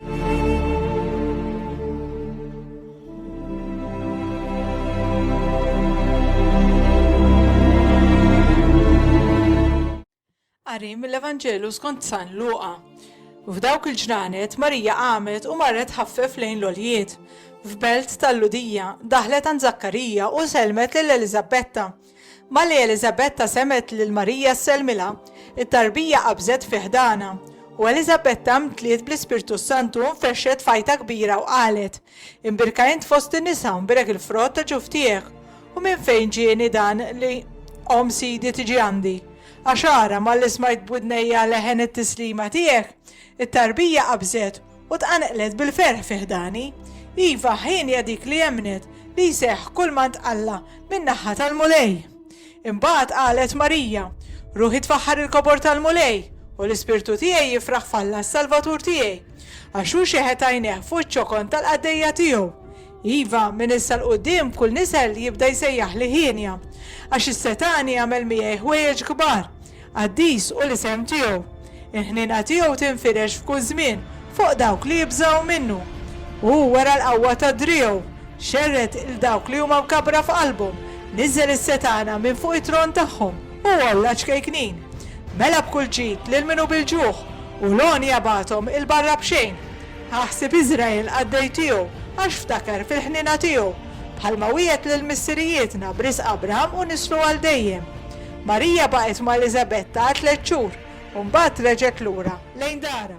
Qari mill-Evanġelu skont San Luqa. F'dawk il-ġranet Marija qamet u marret ħaffef lejn l-oljiet. F'belt tal-Ludija daħlet għand Zakkarija u selmet lil Eliżabetta. Malli Eliżabetta semgħet lil Marija ssellmilha, it-tarbija qabżet fi ħdanha, u Eliżabetta mtliet bl-Ispirtu s-Santu u nfexxet f'għajta kbira u qalet, Imbierka int fost in-nisa u mbierek il-frott ta' ġuf tiegħek. U minn fejn ġieni dan li omm Sidi tiġi għandi? Għax ara, malli smajt b'widnejja leħen it-tislima tiegħek, it-tarbija qabżet, U tqanqlet bil-ferħ fi ħdani. Iva, ħin hija dik li emmnet li jseħħ kull ma ntqalha min-naħa tal-Mulej. Imbagħad qalet Marija, Ruħi tfaħħar il-kobor tal-Mulej, u l-ispirtu tiegħi jifraħ f'Alla s-Salvatur tiegħi, għax hu xeħet għajnejh fuq iċ-ċokon tal-qaddejja tiegħu. Iva, minn issa 'l quddiem kull nisel jibda jsejjaħli hienja, għax is-setgħani għamel miegħi ħwejjeġ kbar. Qaddis hu l-isem tiegħu. Il-ħniena tiegħu tinfirex f'kull żmien fuq dawk li jibżgħu minnu. Hu wera l-qawwa ta' driegħu, xerred 'l dawk li huma mkabbra f'qalbhom, niżżel is-setgħana minn fuq it-tron tagħhom u għolla ċkejknin. Mela b'kull ġid lil min hu bil-ġuħ, u l-għonja bagħathom 'il barra b'xejn. Aħsib Iżrael qaddej tiegħu, għax ftakar fil-ħniena tiegħu, bħalma wiegħed lil missirijietna b'risq Abraham u nislu għal dejjem. Marija baqgħet ma' Eliżabetta għal tliet xhur u mbagħad reġgħet lura lejn darha.